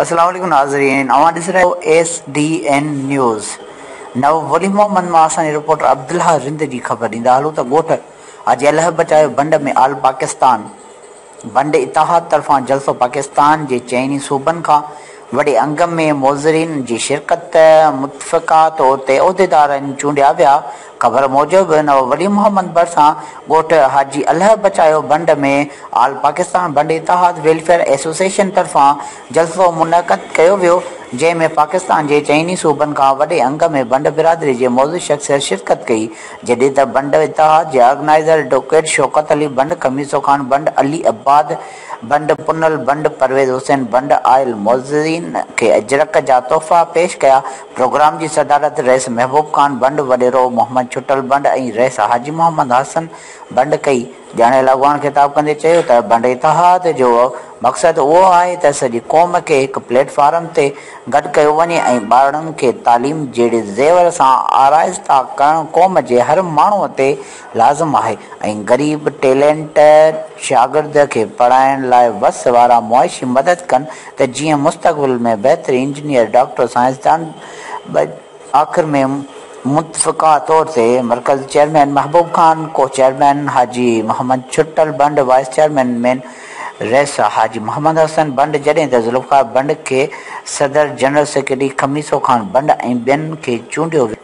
السلام عليڪم ناظرين اوهان ڏسي رهيا آهيو ايس ڊي اين نيوز نو ولي محمد مان اسان جي رپورٽر عبدالله رند جي خبر ڏيندا هلون ته ڳوٺ حاجي الهه بچايو بنڊ ۾ آل پاڪستان بنڊ اتحاد طرفان جلسو پاڪستان جي چئني صوبن کان وڏي انگ ۾ معزرين جي شرڪت متفقه طور تي عهديدارن چونڊيا ويا خبر موجب نواب ولي محمد ڀرسان ڳوٺ حاجي الهه بچايو بنڊ ۾ آل پاڪستان بنڊ اتحاد ويلفيئر ايسوسيئيشن طرفان جلسو منعقد ڪيو ويو، جنهن ۾ پاڪستان جي چئني صوبن کان وڏي انگ ۾ بنڊ برادري جي معزز شخصيت شرڪت ڪئي، جڏهن ته بنڊ اتحاد جي آرگنائيزر ايڊووڪيٽ شوڪت علي بنڊ، خميسو خان بنڊ، علي عباد بنڊ، پنل بنڊ، پرويز حسين بنڊ آيل معززين کي اجرڪ جا تحفا پيش ڪيا. پروگرام جي صدارت رئيس محبوب خان بنڊ، وڏيرو محمد ڇٽل بنڊ ۽ رئيس حاجي محمد حسن بنڊ ڪئي. ڄاڻايل اڳواڻ خطاب ڪندي چيو ته بنڊ اتحاد جو مقصد اهو آهي ته سڄي قوم کي هڪ پليٽ فارم تي گڏ ڪيو وڃي ۽ ٻارڙن کي تعليم جهڙي زيور سان آرائسته ڪرڻ قوم جي هر ماڻهو تي لازم آهي ۽ غريب ٽيلينٽڊ شاگرد کي پڙهائڻ لاء وس وارا معاشي مدد ڪن ته جيئن مستقبل ۾ بهتر انجنيئر ڊاڪٽر سائنسدان آخر ۾ متفقه طور تي مرڪزي چيئرمين محبوب خان، ڪو چيئرمين حاجي محمد ڇٽل بنڊ، وائيس چيئرمين مين رئيس حاجي محمد حسن بنڊ جڏهن ته ذوالفقار بنڊ کي صدر، جنرل سيڪريٽري خميسو خان بنڊ ۽ ٻين کي چونڊيو ويو.